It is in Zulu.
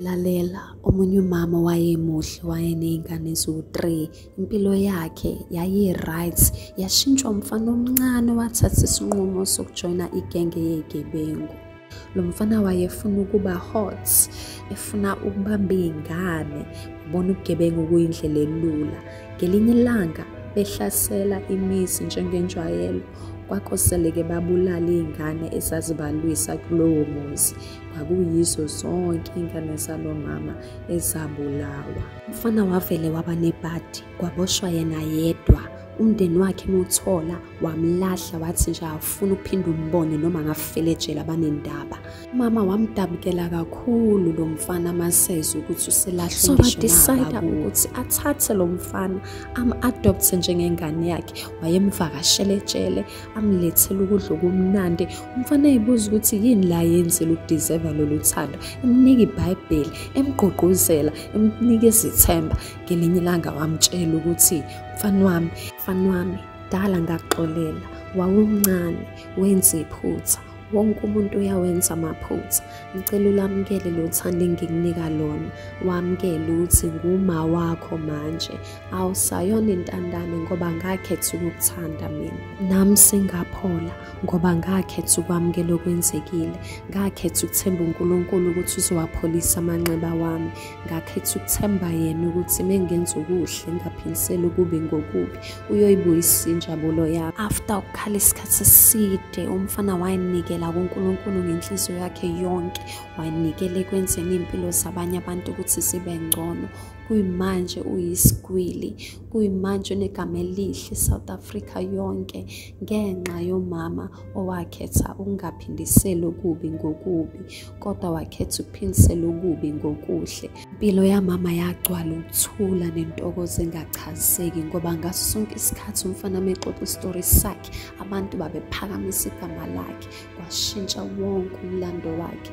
lalela omunye umama wayemuhle wayeney'ngane eziwu-three impilo yakhe yayi-right yashintshwa umfana omncane owathatha isinqumo sokujoyina igenge yey'gebengu lo mfana wayefuna ukuba hot efuna ukubamba iy'ngane ubona ubugebengu kuyindlela elula ngelinye ilanga behlasela imizi njengenjwayelo kwakoseleke babulala iy'ngane ezazibalwisa kulowo muzi kwakuyizo zonke iy'ngane zalo mama ezabulawa umfana wavele waba nebhadi kwaboshwa yena yedwa umndeni wakhe muthola wamlahla wathi nje awufuna ukuphinde umbone noma ngafelejela banendaba mama wamdabukela kakhulu lo mfana maseze ukuthi uselahlwe so badecide ukuthi athathe lo mfana am-adopthe njengengane yakhe wayemvakashele etshele amlethele ukudla okumnandi umfana eyibuza ukuthi yini la yenzela udeserva lolu thando emnika ibhayibheli emgqugquzela emnika izithemba ngelinye ilanga wamtshela ukuthi mfana wami mfana wami dala ngakuxolela wawumncane wenza iphutha wonke umuntu uyawenza amaphutha ngicela ulamukele lo thando engikunika lona wamukele ukuthi nguma wakho manje awusayona intandane ngoba ngakhetha ukukuthanda mina nami sengaphola ngoba ngakhetha ukwamukela okwenzekile ngakhetha ukuthemba unkulunkulu ukuthi uzowapholisa amanxeba wami ngakhetha ukuthemba yena ukuthi mengenza okuhle ngaphindisela ukubi ngokubi uyoyibuyisa injabulo yami after ukukhala isikhathi eside umfana wayenikela kunkulunkulu ngenhliziyo yakhe yonke wayenikela ekwenzeni iy'mpilo zabanye abantu ukuthi zibe ngcono kuyimanje uyisigwili kuyimanje unegama elihle south africa yonke ngenxa yomama owakhetha ukungaphindiseli okubi ngokubi kodwa wakhetha ukuphindisela okubi ngokuhle. Impilo yamama yagcwala ukuthula nentokozo engachaziseki ngoba ngaso sonke isikhathi umfana mexoxa isitori sakhe abantu babephakamisa igama lakhe kwashintsha wonke umlando wakhe.